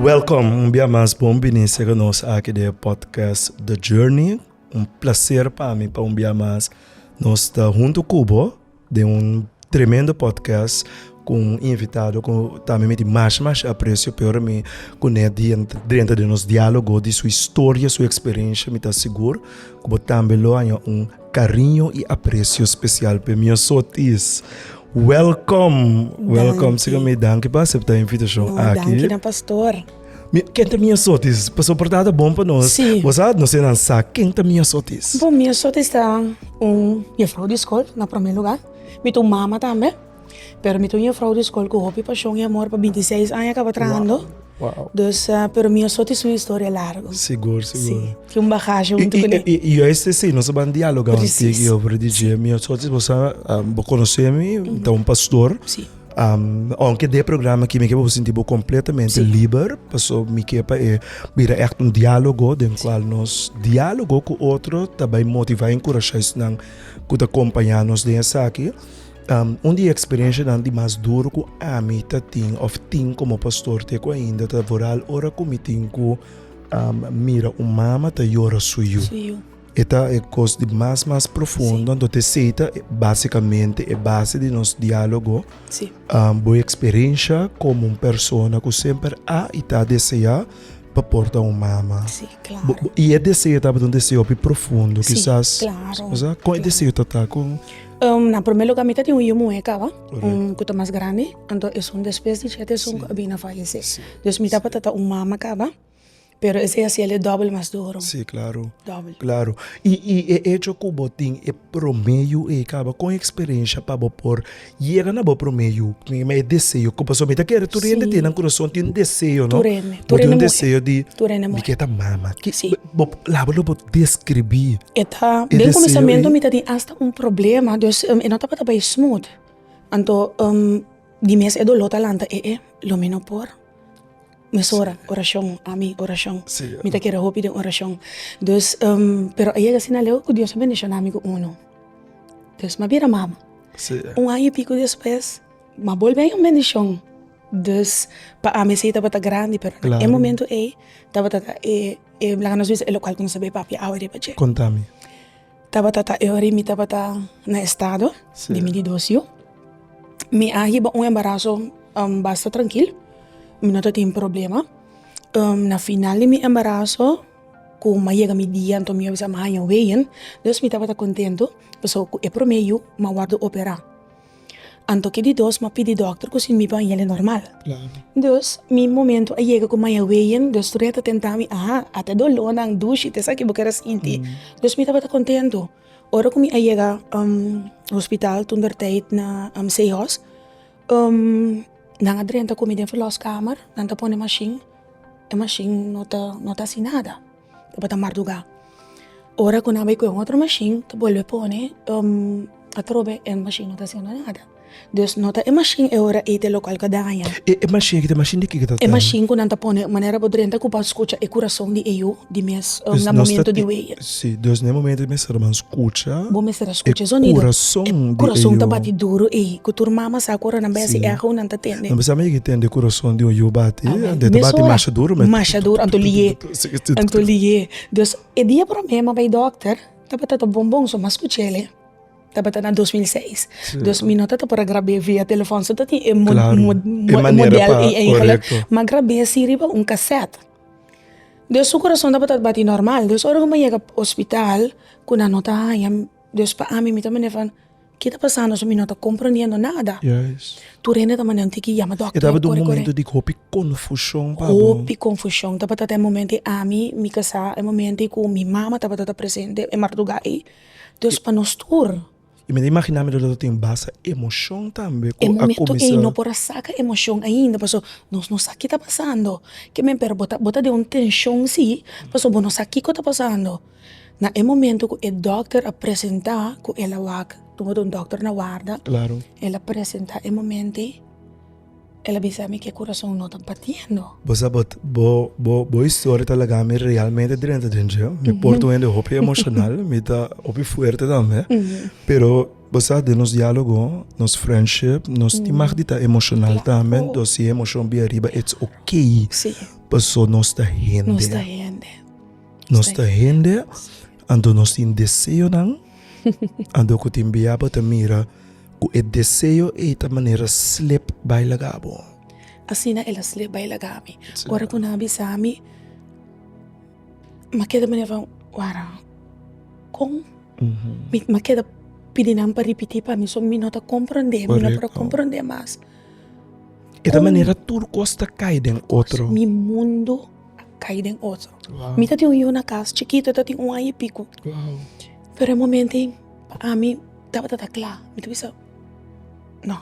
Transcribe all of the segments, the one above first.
Welkom un bia mas bon bini sega nos aki den e podcast The Journey. Un placer pa mi pa un bia mas nos ta hunto cu bo den un tremendo podcast cu un invitado cu ta mi miti mashi mashi aprecio peor mi cu ne drenta den nos dialogo di su historia, su experiencia mi ta sigur cu bo tambe lo haña un Cariño y aprecio special pe mi azotes. Welcome, welcome. Siga mi danki pa acepta invitacion oh, aki. Danki na pastor. Kenta mi azotes, pa soportada bon pa nos. Sí. Vos sabe, no sé nan sa, kenta mi azotes. Bo, mi azotes ta un juffrouw de school, na primer lugar. Mi tu mama tambe. Pero mi ta un yefrou di skol ku hopi pashon i amor pa binti seis aña kaba trahando dus pero mi a soti su historia largu si tin un bahasha huntu ku ne i juist e asina nos ban dialoga un tig i otro di dje mi a soti bo sa bo konosé mi mi ta un pastor ounke de programa aki mi ke bo sinti bo kompletamente liber pasobra mi ke pa e bira èkt un dialogo den kual nos dialogo ku otro ta bai motivá i enkurashá esnan ku ta kompañá nos den esaki. Un di e eksperienshanan di mas duru ku ami ta tin òf tin komo pastor te ku ainda ta voral ora ku mi tin ku mira un mama ta yora su yu. E ta e kos di mas mas profundo, anto esei ta basikamente e base di nos diálogo. Bo eksperiensha komo un persona ku semper a i ta deseá pa por ta un mama? I e deseo tabata un deseo hopi profundo kisas? Kon e deseo ta ta? Na prome luga mi ta tin un yu muhe kaba ku ta mas grandi anto esun despues di shete esun ku a bini a falese dus mi tabata ta un mama kaba pero esei a hasiel e dobel mas duru dobel claro i i e echo ku bo tin e prome yu ei kaba kon eksperensha pa bo por yega na bo prome yu prome deseo ku pasobra mi ta kere tur hende tin nan kurason tin deseo no bo tin un deseo di mi ke ta mama. Bo laga lo bo describí. E ta, den kuminsamentu mi ta tin asta un problema, dus e no tabata bai smooth. Anto di mes e doló ta lanta e e, lo mi no por. Mes ora, orashon, ami, orashon. Mi ta kere hopi den orashon. Dus, pero a yega asina aleu ku Dios a bendishoná mi ku unu. Dus mi a bira mama. Un aña i piku despues. Ma bolbe a un bendishon. Dus pa ami esei tabata grandi, pero na e momentu ei tabata ta e, laga nos bisa e lokal ku nos a bai papia awe riba dje. Kontami. Tabata ta e ora mi tabata na estado di mi di dos yu. Mi a hiba un embaraso basta trankil, mi no tatin problema. Na final di mi embaraso ku mi a yega mi dia anto mi a bisa mi a haña weyen, dus mi tabata kontentu pasobra ku e promé yu mi a wòrdu operá. Anto ke di dos m'a pidi dòkter ku si mi ban yende normal. Dus, mi momentu a yega ku maya weyen, dus tur e ta tenta mi, Aha, ate dolónan, dushi, ta esaki bo ker a sinti. Dus mi tabata kontentu. Ora ku mi a yega hospital toentertyd na Zeehaus, nan a drenta ku mi den vèlòskamer, nan ta pone mashin, e mashin no ta no ta hasi nada. E bo ta mardugá. Ora ku nan bai kue un otro mashin ta bolbe pone atrobe e mashin no ta haciendo nada dus no ta e mashin e ora ei ta e lokal ku a daña. E mashin aki ta e mashin di kiko ta E mashin ku nan ta pone manera bo drenta ku bo a skucha e kurason di e yu di mes na momentu di wei. Si dus na e momentu ei mester bo a skucha Bo mester a skucha e sonido e kurason di e yu. Kurason ta bati duru ei ku tur mama sa ku ora nan bai hasi eho nan ta tende. Nan bisa mi yega tende kurason di un yu bati ta bati masha duru. Masha duru anto liye. Anto lié. Dus e dia promé m'a bai dòkter tabata ta bon bon so mas ku chele. Tabata na dos mil seis. Dus mi no ta ta por a grab'é via telefòn so ta tin e modèl i e ingelè. M'a grab'é si riba un kasèt. Dus su kurason tabata ta bati nòrmal. Dus ora ku m'a yega ospital ku nan no ta haña, dus pa ami mi ta manera van. Ke ta pasando su mi no ta komprondiendo nada. Tur hende ta manda un tiki yama dokter kore kore. E tabata un momento di hopi konfushon pa bo. Hopi konfushon tabata ta e momento ei ami mi kasa e momento ei ku mi mama tabata ta presente e marduga ei dus pa nos tur. Mi ta imaginá mi tabata ta tene basta emoshon tambe ku a kuminsá. E momento ei no por a saka emoshon ainda paso nos no sa ke ta pasando. Ke men pero bo ta bo ta den un tenshon si paso bo no sa kiko ta pasando. Na e momento cu e dokter a presenta cu el a wak, tuma ta un dokter na warda, el a presenta e moment'e, el a bisa mi cu e curason no ta batiendo. Bo sa but, bo historia ta laga mi realmente drenta den dje. Mi porta un hende hopi emocional, mi ta hopi fuerte tambe. Pero bo sa den nos dialogo, nos friendship, nos tin mag di ta emocional tambe, entonces si e emocion bira riba it's ok, paso nos ta hende. Nos ta hende, anto nos tin deseonan, anto ku tin bia bo ta mira ku e deseo ei ta manera slep bai laga bo. Asina el a slep bai laga mi. Ora ku nan a bisa mi, m'a keda manera van, wara, kon? M'a keda pidi nan pa ripití pa mi, so mi no ta komprondé, mi no por a komprondé mas. E ta manera tur kos ta kai den otro. Mi mundu. kai den otro. Mi ta tin un yu na kas chikito, ta tin un aña i piku. Pero e momento ei pa ami tabata ta kla, mi ta bisa no,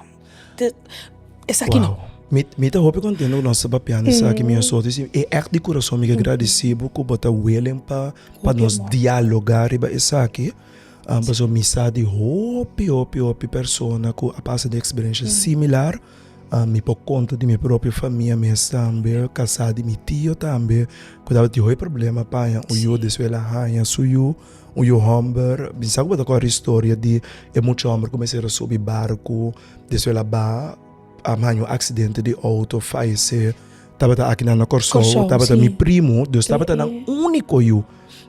esaki no. Mi ta hopi kontento ku nos ta papiando esaki, mi a soti si e èkt di kurason mi ke gradisí bo ku bo ta willing pa nos dialogá riba esaki, pasobra mi sa di hopi hopi hopi persona ku a pasa di eksperenshia similar. Mi por konta di mi propio famia mes tambe, kasá di mi tio tambe ku tabata tin hopi problema paña un yu despues el a haña su yu, un yu hòmber. Mi sa ku bo ta kòrda e historia di e mucha hòmber ku mester a subi barku despues el a baha, a haña un aksidente di outo fayesé. Tabata aki nan na Kòrsou, tabata mi primu, dus tabata nan úniko yu.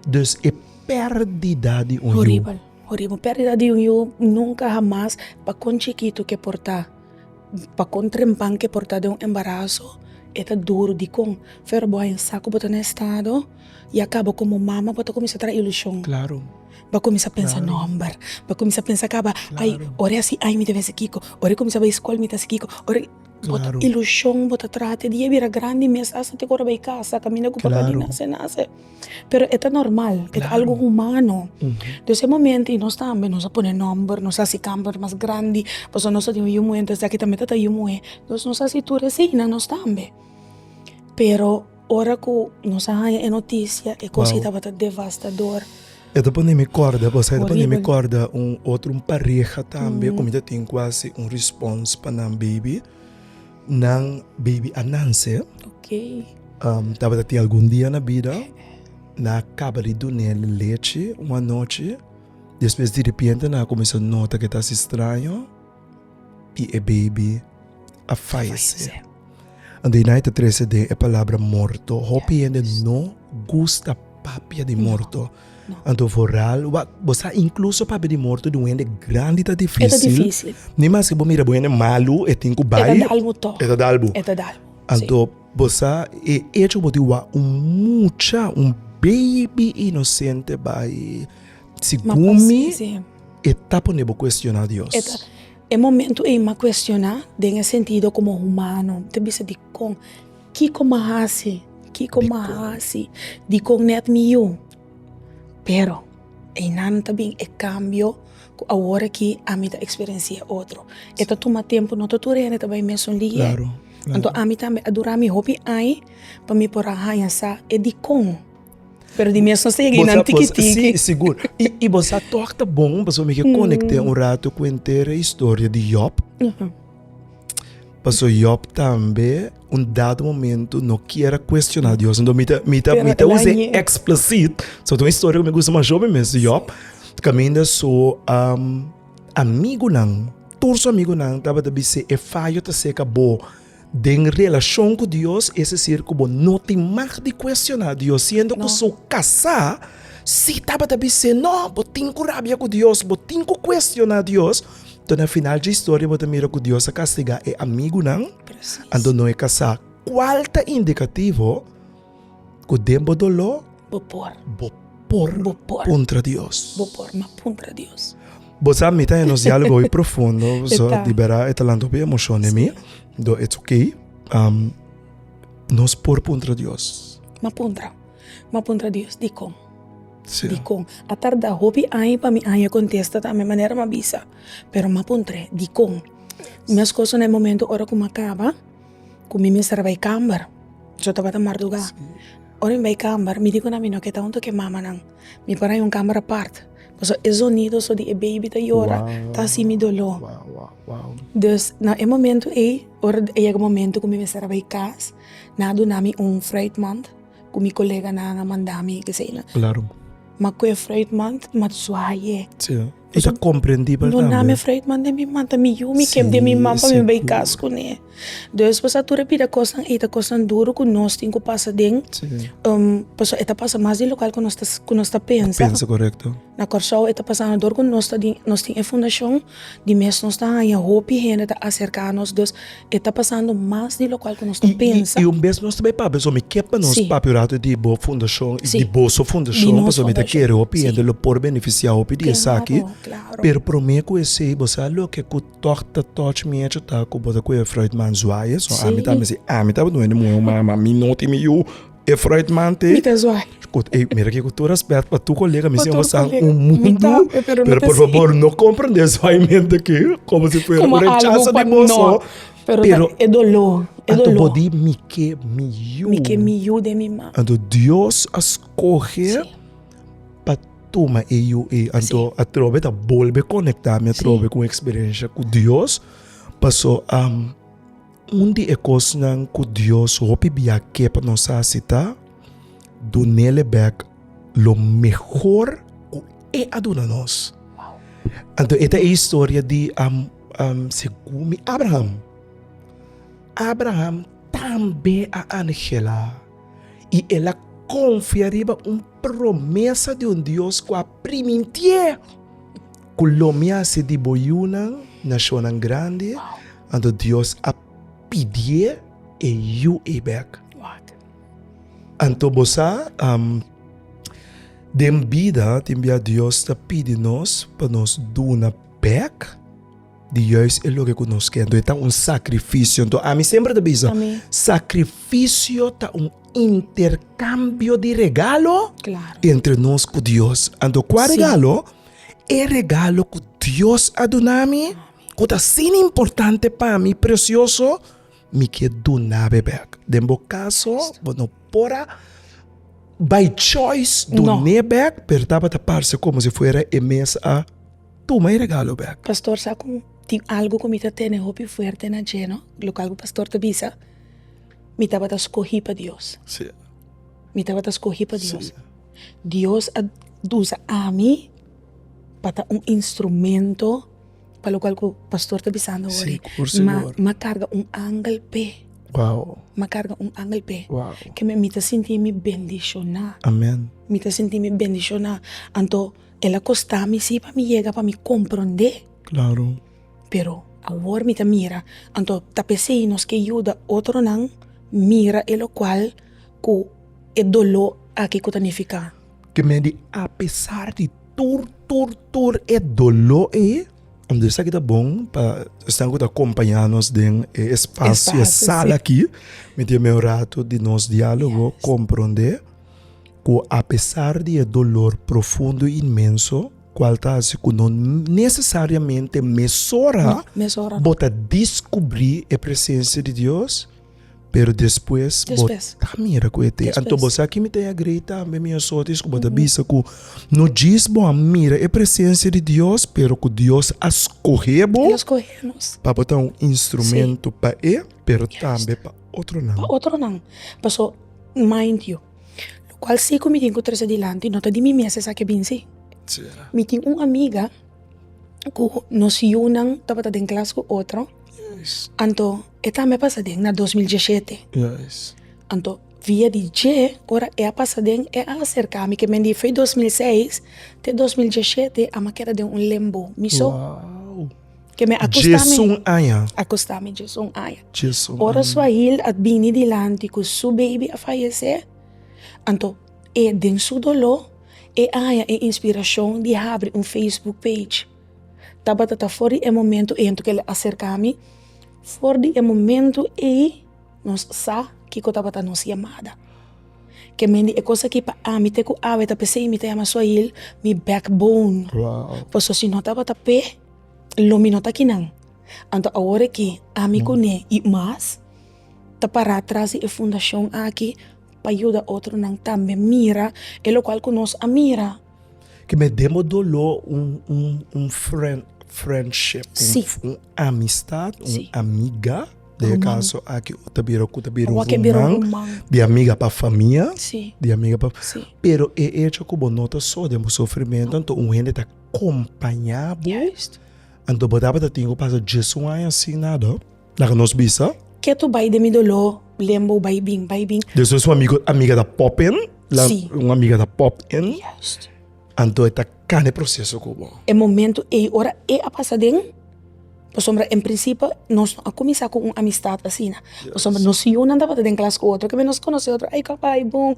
Dus e pèrdida di un yu. Horibel, horibel. Un pèrdida di un yu nunka hamas pa kon chikitu ke por ta. Pa kon trempan ke por ta den un embaraso e ta duru dikon pero bo a insa ku bo ta na e estado ya kaba komo mama bo ta kuminsha traha ilushon bo a kuminsha pensa nòmber bo a kuminsha pensa kaba ai ora e hasi aña mi debe hasi kiko ora e kuminsha bai skol mi ta hasi kiko ora ilushon bo ta traha te dia e bira grandi mes hasta te ku ora bai kasa kaminda ku papadinan se nase. pero e ta normal e ta algo humano dus e momento i nos tambe nos a pone nomber nos a hasi kamber mas grandi pasobra nos ta tin un yu muhé entonces esaki tambe ta ta yu muhé dus nos a hasi tur esina nos tambe pero ora ku nos a haña e notisia e kosa i tabata devastador e ta pone mi kòrda kos e ta pone mi kòrda un otro un pareha tambe ku mi ta tin kual si un respons pa nan baby. Nan baby Ananse tabata tin algun dia na bida, nan a kaba di dunel lechi un anochi, despues diripiente nan a kuminsá nota ke ta hasi straño i e baby a fayese. Anto nan e ta trese den e palabra morto. Hopi hende no gusta papia di morto. Anto vooral wak bo sa inkluso papia di morto di un hende grandi ta difísil, ni maske bo mira bo hende malu e tin ku bai, e ta dal bo. Anto bo sa e echo ku bo tin wak un mucha, un beibi inosente bai, segun mi e ta pone bo kuestioná Dios. E momentu ei m'a kuestioná den e sentido komo humano, mi ta bisa dikon? Kiko m'a hasi? Kiko m'a hasi? Dikon nèt mi yu? Pero, einan ta bin e kambio ku awor aki ami ta eksperensi'é e otro. E ta tuma tempu, no ta tur hende ta bai mesun ligi'é. Anto ami tambe a dura mi hopi ai pa mi por a haña sa e dikon. Pero di mes nos ta yega einan tiki tiki. Sí, sigur. I bo sa tòg ta bon pasobra mi ke konekte un ratu ku entera historia di Yòb. Paso Job tambe un dado momento no kier a cuestiona Dios. Ento mi ta, mi ta, mi ta usa explicit. So tu historia mi gusta mas joven mes Job. Caminda so um, amigo nan, tur so amigo nan taba ta bise e fallo ta seca bo den relacion cu Dios, es decir cu bo no tin mag di cuestiona Dios. Siendo cu so casa si taba ta bise no, bo tin cu rabia cu Dios, bo tin cu cuestiona Dios. Toh na final dje historia bo ta mira ku Dios a kastigá e amigunan, anto no e kasá. Kual ta indikativo ku den bo doló bo por puntra Dios? Bo sa mi ta nos diálogo hoy profundo, so di bera e ta lanta hopi emoshon den mi, do it's ok. Nos por puntra Dios? M'a puntra Dios. Dikon? Dikon? A tarda hopi aña pa mi aña kontesta tambe manera m'a bisa. Pero m'a puntr'é, dikon? Meskos na e momento ora ku m'a kaba, ku mi mester a bai kamber, so tabata mardugá. Ora mi bai kamber, mi di ku na mi no ke ta huntu ku e mamanan, mi por haña un kamber apart. Pasobra e zonido so di e beibi ta yora ta hasi mi doló. Dus na e momento ei, ora a yega momento ku mi mester a bai kas, nan a duna mi un vrijtmand. Ku mi koleganan a manda mi ke seña. Klaro. Ma ku e Freud man ta mat suaye. Si. Nos a komprendí por el tambe. No na mi Freud man den mi man ta mi yu mi kep den mi man pa mi bai kas kuné. Des pasobra tur e bida kosnan ei ta kosnan duru ku nos tin ku pasa den. Si. Pasobra e ta pasa mas di lokal ku nos ta ku nos ta pensa. Ta pensa korekto. Na Kòrsou e ta pasando dor ku nos ta di nos tin e fundashon di mes nos ta haña hopi hende ta aserká nos. E ta pasando mas di lokual ku nos ta pensa. I un bes nos ta bai papia so mi ke pa nos papia un ratu di bo fundashon i di boso fundashon pasobra mi ta kere hopi hende lo por benefisiá hopi di esaki. Pero promé ku esei bo sa loke ku tòg ta touch mi hecho ta ku bo ta kuye Freudman zwaaie. So ami ta mester ami tabata un hende muhé human ma mi no tin mi yu. E fruitman te. Mi ta zwaai. Kot ei, mira ke ku tur respet pa tur kolega, mi si awor sa un mundu, pero por fabor no komprende e zwaaiment aki komo si fuera un rechaso di boso. Pero e dolo, e dolo. Anto bo di mi ke mi yu. Mi ke mi yu den mi man. Anto Dios a skohe pa tuma e yu ei. Anto atrobe ta bolbe konekta mi atrobe ku un eksperensha ku Dios, paso a. Un di e kosnan ku Dios hopi bia ke pa nos hasi ta dun'E bèk lo mehor ku E a duna nos. Anto e ta e historia di segun mi Abraham. Abraham tambe a anhelá i el a konfia riba un promesa di un Dios ku a primint'E. Ku lo mi hasi di bo yunan, nashonnan grandi, anto Dios a pidié e yu ei bèk. Anto bo sa, den bida tin bia Dios ta pidi nos pa nos duna bèk di juis e loke ku nos ke. Anto e ta un sakrifisio. Anto ami semper ta bisa, sakrifisio ta un interkambio di regalo entre nos ku Dios. Anto kua regalo? E regalo ku Dios a duna mi, ku ta sin importante pa mi, presioso, mi ke duna be bek. Den bo kaso, bo no por a bai choice dun'é bek, pero tabata parse komo si fuera e mes a tuma e regalo bek. Pastor sa ku tin algu ku mi ta tene hopi fuerte na dje, no? Lokal ku pastor ta bisa, mi tabata skohi pa Dios, mi tabata skohi pa Dios. Dios a usa ami pa ta un instrumento pa lokual ku pastor ta bisando awor ma ma karga un angel p'e ma karga un angel p'e ke mi ta sintimi bendishoná mi ta sintimi bendishoná anto el a kostami si pa mi yega pa mi komprondé. Pero awor mi ta mira, anto ta p'esei nos ke yuda otronan mira e lokual ku e doló aki ku ta nifiká. Ke mende apesar di tur tur tur e doló ei, unda esaki ta bon pa esnan ku ta akompañá nos den e espasio, e sala aki, mi tin mei un ratu di nos diálogo komprondé ku apesar di e dolor profundo, inmenso. Cual ta haci cu no necesariamente mesora bo ta descubri e presencia di Dios, pero despues bo ta mira cu e ta. Anto bo sa kimi ta e agrey tambe mi asotis cu bo ta bisa cu no djis bo a mira e presencia di Dios pero cu Dios a scoge bo pa bo ta un instrumento pa e pero tambe pa otronan. lo cual si cu mi tin cu trece dilanti no ta di mi mes esaki a binsi. Mi tin un amiga cu nos yunan tabata den clas cu otro, anto e tambe a pasa den na dos mil diesisiete, anto via di dje ora e a pasa den e a acerca mi, kende di fue dos mil seis te dos mil diesisiete a keda den un lembo, mi so. Djes un aña. Ora Swahil a bini dilanti ku su beibi a fayesé, anto e den su doló e a haña e inspirashon di habri un facebook page. Tabata ta for di e momentu ei anto kel a serka mi. For di e momentu ei nos sa kiko tabata nos yamada. Ke men di e kos aki pa ami te ku awe ta p'esei mi ta yama su ayil mi backbone. Paso si no tabata p'e lo mi no ta akinan. Anto awor aki ami kuné i mas ta pará tras di e fundashon aki pa yuda otronan tambe mira e lokual ku nos a mira. Ke me demo doló un un un frènd frèndship un Sí. f- un amistad un Sí. amiga den e Ruman. kaso aki ku ta bira ku ta bira Ua un ke bira un ruman ruman. di amiga pa famia Sí, di amiga pa sí. pero e echo ku bo no ta so den bo sofrimentu anto un hende ta kompañá bo Juist. anto bo tabata tin ku pasa djes un aña sin nada. Laga nos bisa. Ketu bai den mi doló. Lembo bai bin, bai bin. Despues un amigo, amiga ta pop in. Sí. Un amiga ta pop in. Juist. Anto e ta kanda e proseso ku bo. E momento ei, ora e a pasa den. Pasobra en prinsipio nos no a kuminsá ku un amistat asina. Pasobra nos yunan tabata den klas ku otro. Nos konosé otro, ai kaba, ai bon.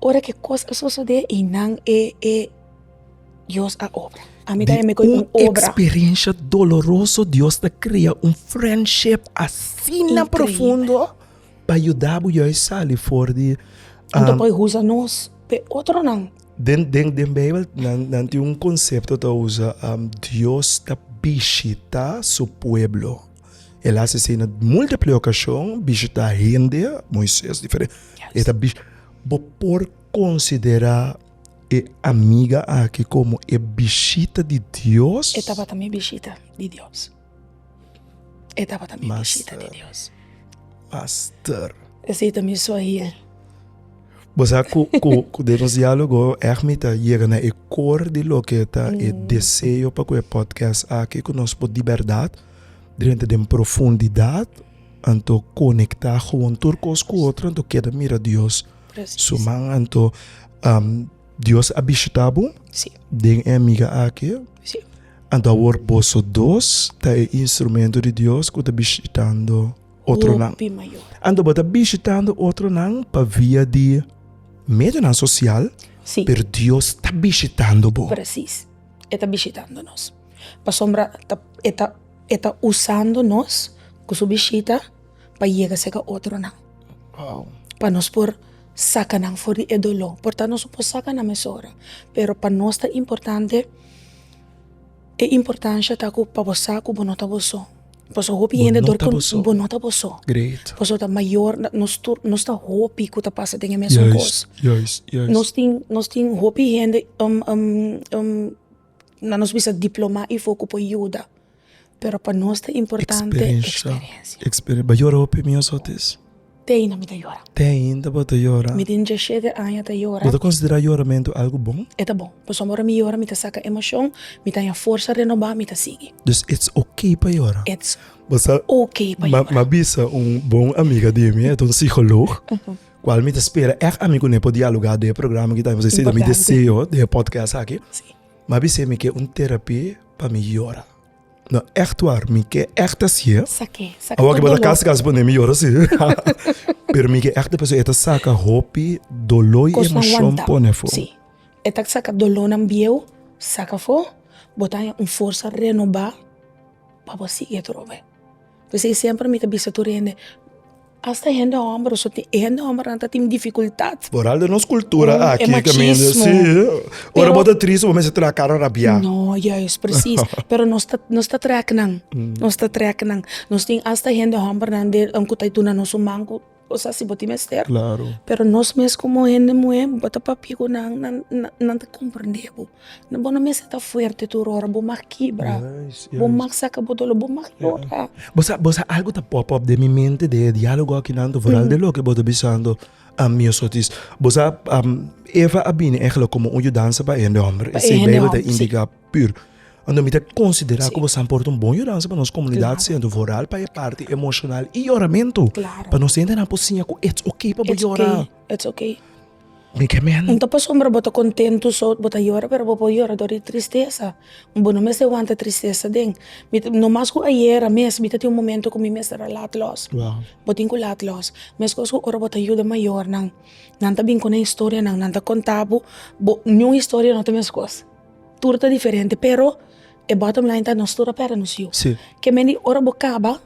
Ora ku e kos a sosodé, einan e. Dios a obra. Ami ta yam'e koe un obra. Di un experiencia doloroso Dios ta crea un friendship asina profundo pa yuda bo juis sali for di. Nan ta por usa nos p'e otronan. Den den den bijbel nan tin un concepto ta usa Dios ta bishita su pueblo el a haci así na multiple ocasion bishita hende moises diferente e ta bishita bo por considera. e amiga aki komo e bishita di Dios. E tabata mi bishita di Dios. E tabata mi bishita di Dios. Master. Esei ta mi suahil. Bo sa ku, ku, ku den nos diálogo echt mi ta yega na e kor di loke ta e mm. deseo pa ku e podcast aki ku nos por di berdad drenta den profundidad anto konekta gewoon tur kos ku otro anto keda mira Dios. Su man, anto um, Dios a bishita bo sí. den e amiga aki. Sí. Anto awor boso dos ta e instrumento di Dios ku ta bishitando otro nan. Anto bo ta bishitando otro nan pa via di medio nan social, sí. pero Dios ta bishitando bo. Presis. E ta bishitando nos. Pasobra e ta, e ta usando nos ku su bishita. pa yega seca otronan pa nos por saca nan for di e dolor por ta nos no por saca nan mes ora pero pa nos ta importante e importancia ta cu pa bo sa cu bo no ta bo so pasobra hopi hende dor bo no ta bo so pasobra ta mayor nos tur nos ta hopi cu ta pasa den e mesun cos nos tin nos tin hopi hende na nos bisa diploma y fo cu por yuda. Pero pa nos ta importante eksperensia. Eksperensia. Bo a yora hopi mi asotes? Te ainda mi ta yora. Te ainda bo ta yora. Mi tin diashete aña ta yora. Bo ta konsiderá yoramentu algu bon? E ta bon. Pasobra ora mi yora mi ta saka emoshon, mi ta haña forsa renobá, mi ta sigui. Dus ets oke pa yora? Ets oke pa yora. Mi a bisa un bon amiga di mi, e ta un sikolog, kual mi ta spera èk ami kuné por dialogá den e programa aki, ta haña mi sentido mi deseo den e podcast aki. M'a bis'é mi ke un terapi pa mi yora. No, ègt war, mi ke ègt hasié. Sak'é, sak'é tur dolor. Awor ke bo ta kas kas pone mi yora si. Pero mi ke ègt ta pasobra e ta saka hopi doló i emoshon pone afó. Kos nan wanta. Si, e ta saka dolónan bieu saka afó, bo ta haña un forsa renobá pa bo sigui atrobe. P'esei semper mi ta bisa tur hende, asta e hende hòmber, e hende hòmbernan ta tin difikultat. Boral den nos kultura aki ta mester si, ora bo ta tristi bo mester traha kara rabiá. No, yais, presis. Pero nos ta, nos ta trèknan, nos ta trèknan. Nos tin asta hende hòmbernan den ku ta duna nos un man ku. Bo sa si bo tin mester. Claro. Pero nos mes komo hende muhé bo ta papia ku nan, nan, nan, nan ta komprendé bo. Bo no mester ta fuerte tur ora, bo mag kibra. Yes, yes. Bo mag saka bo doló, bo mag yora. Bo sa, bo sa algu ta pòp òp den mi mente den e diálogo aki nan tu foral den loke bo ta bisando ami osotis. Bo sa, Eva a bini ègèlè komo un yudansa pa e hende hòmber. E sebeibel ta indiká. Pur. Anto mi ta konsiderá ku bo sa por ta un bon yudansa pa nos komunidat siendo voral pa e parti emoshonal i yoramentu. Pa nos hende nan por siña ku ets ok pa bo yora. Ets ok. Mi ke men. Un ta pasobra bo ta kontentu so bo ta yora pero bo por yora dor di tristesa. Bo no mester wanta tristesa aden. Mi ta no mas ku ayera mes mi ta tin un momento ku mi mester a lat lòs. Bo tin ku lat lòs. Meskos ku ora bo ta yuda mayornan. Nan ta bin ku nan historianan, nan ta konta bo bo niun historia no ta meskos. Tur ta diferente pero e bottom line ta nos tur a perde nos yu ke men di ora bo kaba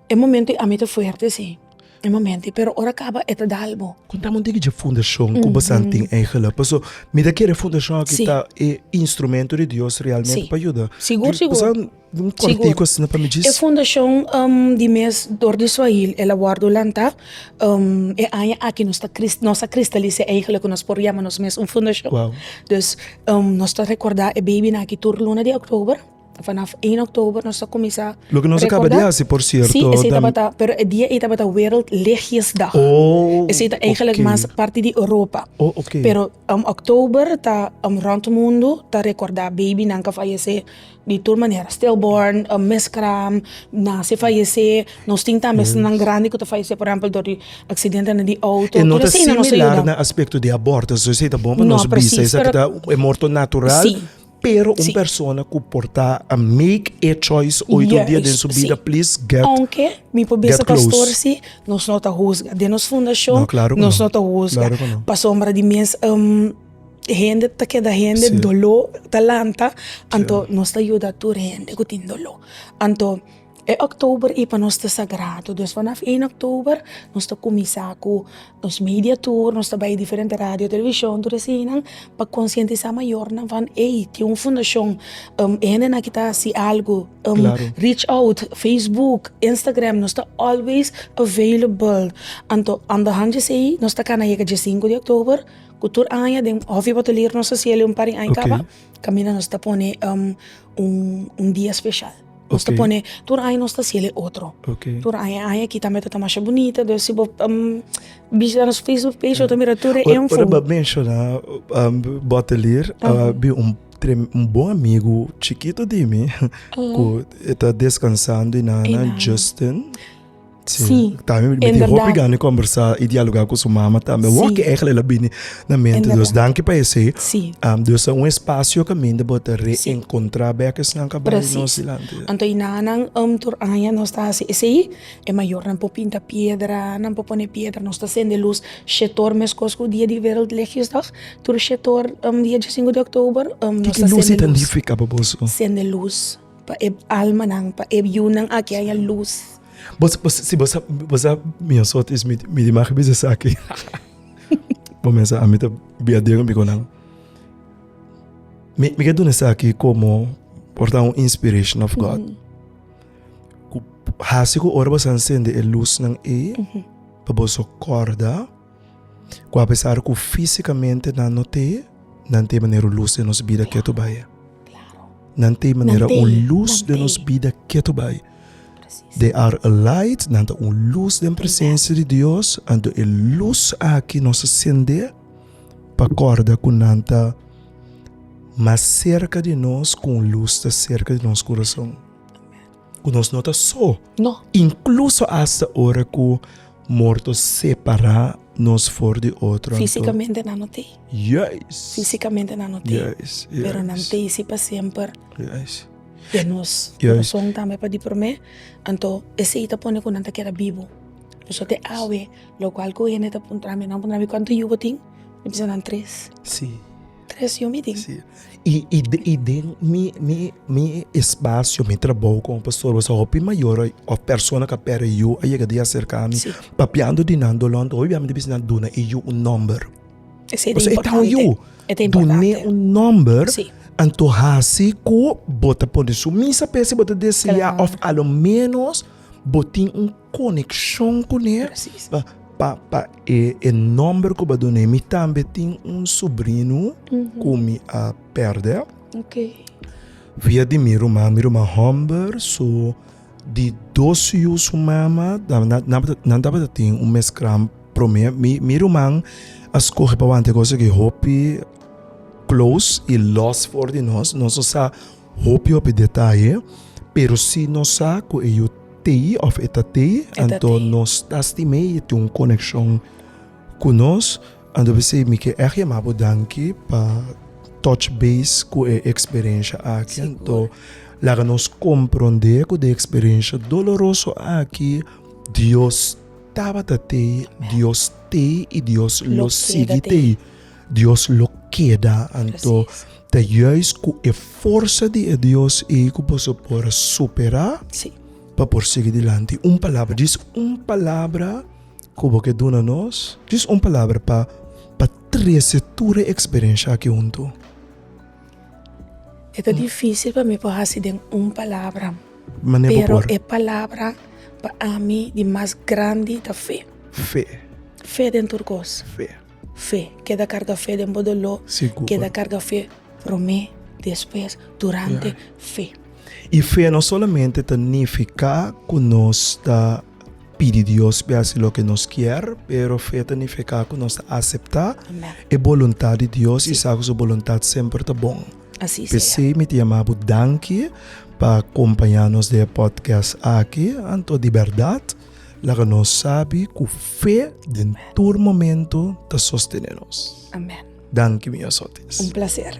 e momento i ami ta fuerte si e momento i pero ora kaba e ta dal bo. Kontami un tigi dje fundashon ku Basan tin eigelik paso mi ta kere fundashon aki ta e instrumento di Dios realmente pa yuda Basan. Sigur, e fundashon di mes dor di Swahil el a wòrdu lantá e aña aki. Nos ta nos a kristalisá eigenlik ku nos por yama nos mes un fundashon. Dus nos ta rekordá e beibinan aki tur luna di òktober. Vanaf ien òktober nos ta kuminsá rekordá. Sí, esei tabata, pero e dia ei tabata Wereld Lichtjesdag. Esei ta eigenlik mas parti di Europa. Pero òktober ta rònt mundu ta rekordá beibinan ku a fayesé. Di tur manera, stillborn, miskram, nase fayesé, nos tin tambe esnan grandi ku ta fayesé por ehèmpel dor di aksidente di outo, tur eseinan nos ta yuda. No, presis, pero si, si, ounke mi por bisa pastor si, nos no ta husga. Den nos fundashon nos no ta husga pasobra di mes. hende ta keda hende si doló ta lanta anto nos ta yuda tur hende ku tin doló anto e october i pa nos ta sagrado dus vanaf ien october nos ta kuminsá ku nos media tur nos ta bai diferente radio televishon tur eseinan pa konsientisá mayornan van ey tin un fundashon hende na ki ta hasi algu rich out facebook instagram nos ta always available anto andar han dje sei nos ta kana yega dje sinku di october. Ku tur aña den Hof di Boteler nos ta hasi el'e un par di aña kaba, kaminda nos ta pone un dia speshal. Nos ta pone, tur aña nos ta hasi el'e otro. Tur aña, aña aki tambe tabata masha bunita, dus si bo bishita nos facebook page bo ta mira tur e info. Ora bo a menshoná Boteler, a bin un un bon amigu chikitu di mi ku e ta deskansando i nan nan, Justin. Sí, también me dijo hopi gana conversar y dialogar con su mamá también. Sí. Walk eigenlijk la bini na mente. Dus dank pa ese. Sí. Um, dus un espacio que minde bota reencontrar sí. bek esnan ka bai no silante. Anto inanan um tur aña nos ta hace ese i e mayor nan po pinta piedra, nan po pone piedra, nos ta sende luz shetor meskos ku dia di wereldlichtdag. Tur shetor um dia 25 de oktober um nos ta sende luz. Kiki luz significa pa boso? Sende luz. Pa e almanan, pa e biunan aki a haña lus. Bos, bos, si bos sa, bos sa mia sort is, mi, mi di maki bisa esaki. Bo mensa, ami ta bia den mi ku nan. Mi, mi ke duna esaki komo por ta un inspiration of God. Ku hasi ku ora bo sa encende e lusnan ei, pa boso korda. Ku apesar ku físikamente nan no te, nan te manera un lus den nos bida ke ta bai. Nan te manera un lus den nos bida ke ta bai. They are a light, nan ta un lus den presensia di Dios, anto e lus aki nos a sendé pa kòrda ku nan ta mas serka di nos ku un lus ta serka di nos kurason. ku nos no ta so. No. Inkluso asta ora ku morto separá nos for di otro. Físikamente nan no te. Yes. Físikamente nan no te. Yes. yes. Pero nan te si pa semper. Yes. E nos corazón tambe pa di promé. Anto esei ta pone ku nan ta keda bibu. Pasobra te awe lokual ku hende ta puntra mi, nan puntra mi, Kuantu yu bo tin? Mi bisa nan tres. Sí. Tres yu mi tin. I den mi espasio, mi trabou komo pastor boso hopi mayor of persona ku a perde yu a yega di aserka mi papiando di nan dolon ta hopi bia mi ta bisa nan duna e yu un nomber. Pasobra e ta un yu. Dun'e un nomber anto hasi ku bo ta pone su misa p'e si bo ta desea of alomenos bo tin un. konekshon kuné pa e nòmber ku bo a dun'é. Mi tambe tin un subrino ku mi a pèrdè via di mi ruman, mi ruman hòmber so di dos yu su mama nan tabata tin un mes gran promé. Mi ruman a skohe pa wante kos aki hopi klous i lòs for di nos, nos no sa. Hopi hopi detaye, pero si nos sa cu e yu tei of e ta tei, anto nos ta stim'é y e tin un coneccion cu nos. Anto mi bisa mi ke echt yama bo danki pa touch base cu e experiencia aki, anto laga nos compronde cu den e experiencia doloroso aki Dios tabata tei, Dios tei y Dios lo sigui tei. Dios lo keda anto ta juis ku e forsa di e Dios ei ku boso por superá pa por sigui dilanti. Un palabra, djis un palabra ku bo ke duna nos, djis un palabra pa pa trese tur e eksperensha aki huntu. E ta difísil pa mi por hasi den un palabra, pero e palabra pa ami di mas grandi ta fe. Fe. Fe den tur kos. Fe, keda karga fe den bo doló, keda karga fe promé, despues, durante, fe. I fe no solamente ta nifiká ku nos ta pidi Dios pa e hasi loke nos kier, pero fe ta nifiká ku nos ta aseptá e boluntat di Dios i sa ku su boluntat semper ta bon. P'esei mi ta yamá bo danki pa kompañá nos den e pòdkèst aki, anto di bèrdat. Laga nos sabi ku fe den tur momento ta sostene nos. Amen. Danki mi Yosotes. Un placer.